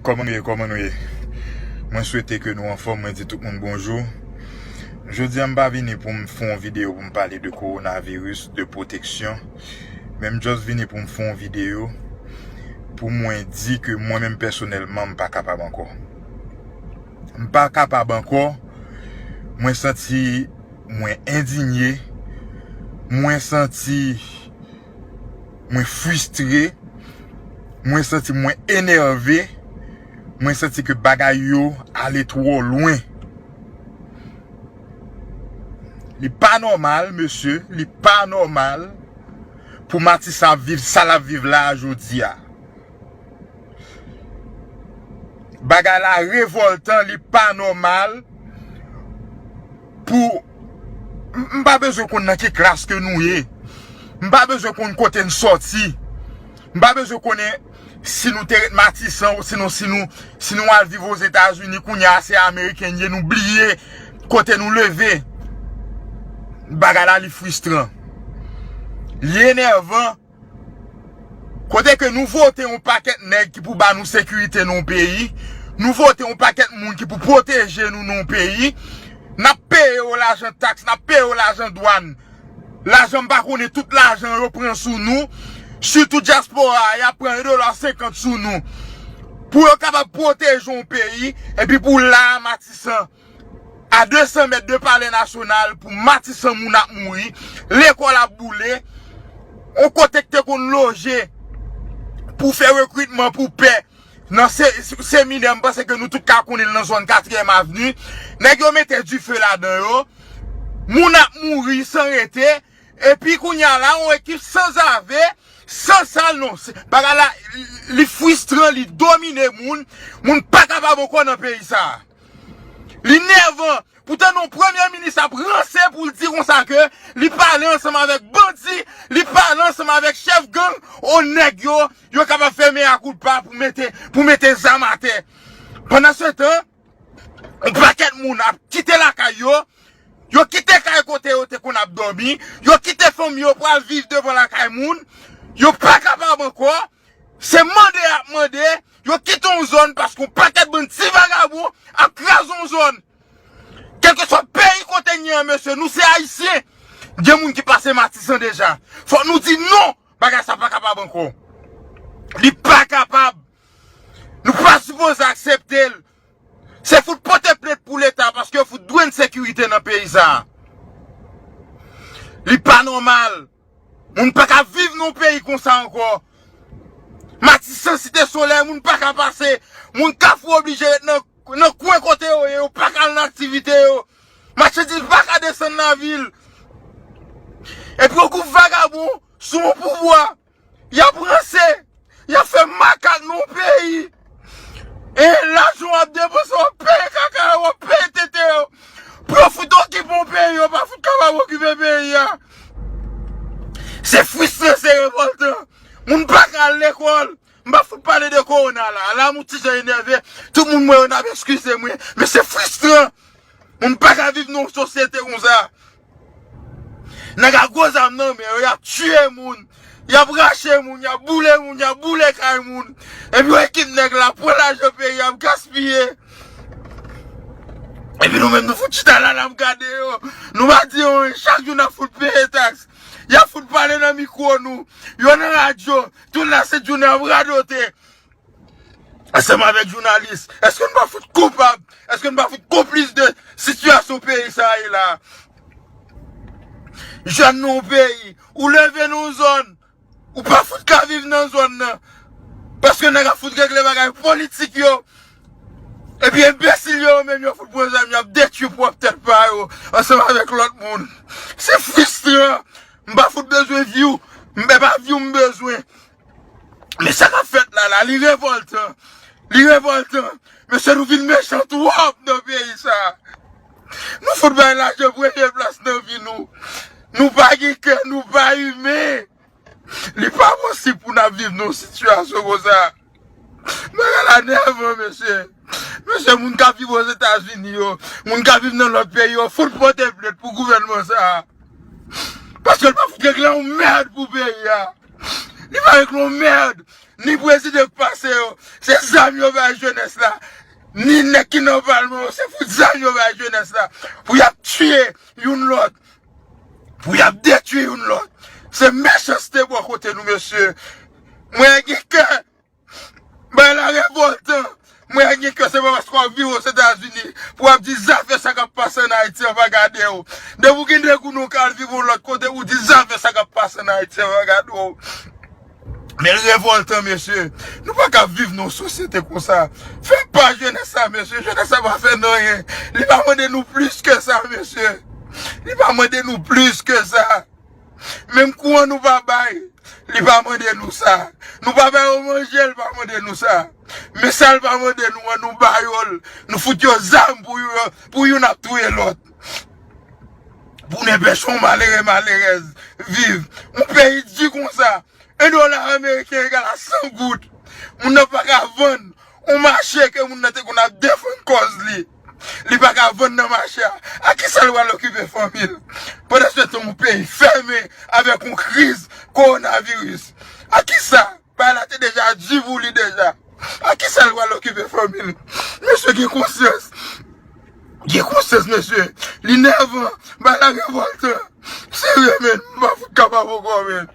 Koman nou ye koman nou ye mwen swete ke nou anfom mwen di tout moun bonjou jodi an m pa vini pou m fè yon video pou m pale de korona viris de pwoteksyon men m just vini pou m fè yon video pou mwen di ke mwen menm pèsonèlman m pa kapab ankò m pa kapab ankò mwen santi mwen endinye mwen santi Mwen fristre, mwen santi mwen enève, mwen santi ke bagay yo ale twò lwen. Li pa nòmal mesye, li pa nòmal pou Matisan ap viv sa l ap viv la a jodi a. Bagay la revòltan, li pa nòmal pou. M pa bezwen konn nan ki klas ke nou ye. M pa bezwen konn kote n soti. M pa bezwen konnen si nou te ret Matisan ou sinon si nou si nou al viv Ozetazini kounye a se Ameriken n ye nou bliye kote nou leve. Bagay la li fristran. Li enèvan. Kote ke nou vote yon pakèt nèg ki pou ba nou sekirite nan yon peyi, nou vote yon pakèt moun ki pou pwoteje nou nan yon peyi, n ap peye yo lajan taks, n ap peye yo lajan dwàn, lajan m pa konnen tout lajan yo pran sou nou, sitou dyaspora a, y ap pran 1 dola 50 sou nou pou yo kapab pwoteje yon peyi, epi pou la a Matisan. A 200 mèt de palè nasyonal pou matisan moun ap mouri, lekòl ap boule, yon kote ki te konn loje pou fè rekritman pou pè nan seminè m panse ke nou tout ka konnen l nan zòn katriyèm avni, nèg yo mete dife ladan yo, moun ap mouri san rete, epi kounye a la yon ekip sanzave, san sal non, bagay la li fristran, li domine moun, moun pa kapab ankò nan peyi sa a. Li nèvan! Pou tande yon premye minis ap ranse pou l di konsa ke li pale ansanm avèk bandi, li pale ansanm avèk chèf gang, o nèg yo, yo kapab fè mea culpa pou mete, pou mete zam atè. Pandansetan, yon pakèt moun ap kite lakay yo, yo kite kay kote yo te konn ap dòmi, yo kite fanmi yo pou al viv devan lakay moun, yo pa kapab ankò, Se mande yap mande yo kite yon zòn paske yon pakèt bann ti vagabon ap kraze yon zòn. Kèlkeswa peyi kote n ye an mesye nou se ayisyen. Gen moun ki pase Matisan deja. Fòk nou di non bagay sa pa kapab ankò. Li pa kapab. Nou pa sipoze aksepte l. Se fout pote plent pou leta paske yo fout dwe n sekirite nan peyi sa. Li pa nòmal. Moun paka viv nan yon peyi konsa ankò. Matisan, Site Solèy moun paka pase. Moun Kafou oblije ret nan kwen kote yo ye, yo paka al nan aktivite yo. Machandiz paka desann lavil. Epi yon gwoup vagabon sou yon pouvwa, y ap ranse. Yap fè makak nan yon peyi e lajan wap depanse wap peye kaka yo, wap peye tete yo pou yo fout okipe yon peyi yo pa fout kapab okipe peyi a. Se fristan, se revoltan. Moun pa ka al lekòl. M pa fout pale de kowona la. La m yon ti jan enève. Tout moun m wè yo n ap eskize mwen. Men se fristan. Moun pa ka viv nan yon sosyete konsa. Nèg ak gwo zam nan men yo y ap tiye moun, y ap rache moun, y ap boule moun, y ap boule kay moun. Epi w ekip nèg la pran lajan peyi a ap gaspiye. Epi nou menm nou fout chita la n ap gade yo. Nou pa di yon ri, chak jou n ap fout peye taks. Y ap fout pale nan mikwo nou, yo nan radyo, tout la sent jounen y ap radote. Ansanm avèk jounalis, èske nou pa fout koupab, èske nou pa fout konplis de sitiyasyon peyi sa a ye la a? Jèn nan yon peyi, ou leve nan yon zòn, ou pa fout ka viv nan zòn nan, paske nèg ap fout regle bagay politik yo, epi enbesil yo yo menm yo fout pran zam yo ap detwi pwòp tèt pa yo ansanm avèk lòt moun. Se fristran, m pa fout bezwen vi w, m, epa vi w m bezwen, Men sa kap fèt la la li revoltan li revoltan mesye nou vin mechan twòp nan peyi sa nou fout bay lajan premye plas nan vi nou nou pa gen kè nou pa imen li pa posib pou nap viv nan yon sitiyasyon konsa bagay la nèvan mesye mesye moun kap viv ozetazini yo moun kap viv nan lòt peyi yo fout pote plent pou gouvènman sa paske l pa fout regle yon mèd pou peyi a. Li pa règle yon merde. Ni prezidan ki pase yo, se zam yo bay jenès la, ni nèg ki nan palman yo, se fout zam yo bay jenès la pou y ap tiye youn lòt, pou y ap detwi youn lòt. Se mechanste bò kote nou mesye. Mwen gen kè. Bagay la revoltan! Mwen wè gen kè se pa paske wap viv ozetazini pou wap di zafè sa kap pase an ayiti an va gadew. Depi ou gen de goun ou ka al viv yon lòt kote ou di zafè sa kap pase an ayiti an va gadew. Men revoltan mesye. Nou pa ka ap viv nan yon sosyete konsa. Fè pa jenès sa mesye. Jenès sa pa fè nou anyen. Li pa mande nou plis ke sa mesye. Li pa mande nou plis ke sa. Menm kouran nou pa bay, li pa mande nou sa. Nou pa ba yo manje, li pa mande nou sa. Men sa li pa mande nou an, nou ba yo l. Nou fout yo zam pou youn ap touye lòt. Pou nenpech yon malere malerèz viv. Yon peyi di konsa, 1 dola ameriken egal a 100 goud. Moun nan pa ka vann yon mache ke moun nan te konn ap defann kòz li. Li pa ka vann nan mache a. Ak ki sa l pral okipe fanmi l? Pandan se tan yon peyi fèmen avèk yon kriz kowonaviris. Ak ki sa? Bagay la te deja di pou li deja. Ak ki sa l pral okipe fanmi l? Mesye gen konsyans. Gen konsyans mesye. Li nèvan. Bagay la revòltan. Serye men. M pa fout kapab ankò men.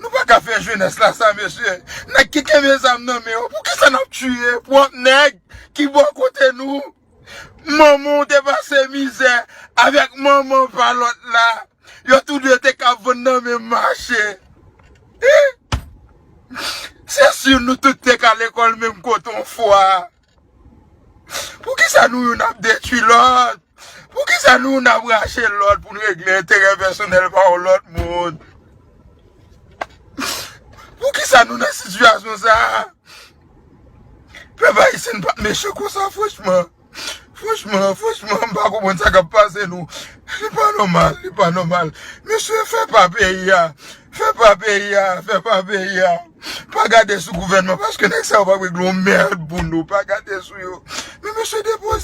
Nou pa ka fè jenès la sa mesye, nèg ki kenbe zam nan men yo poukisa nap tiye pwòp nèg ki bò kote nou, manman w te pase mizè avèk manman pa lòt la, yo tou 2 te ka vann nan menm mache, se si nou tout te ka lekòl menm kote yon fwa. Poukisa nou youn ap detwi lòt? Poukisa nou youn ap rache lòt pou n regle enterè pèsonèl pa yon lòt moun? Poukisa nou nan sitiyasyon sa a? Pèp ayisyen n pa mechan konsa franchman. Franchman, franchman, m pa konprann sa k ap pase nou. Li pa nòmal, li pa nòmal. Mesye, fè pa peyi a. Fè pa peyi a, fè pa peyi a. Pa gade sou gouvènman paske nèg sa yo pap regle yon merd pou nou pa gade sou yo men mesye depoze.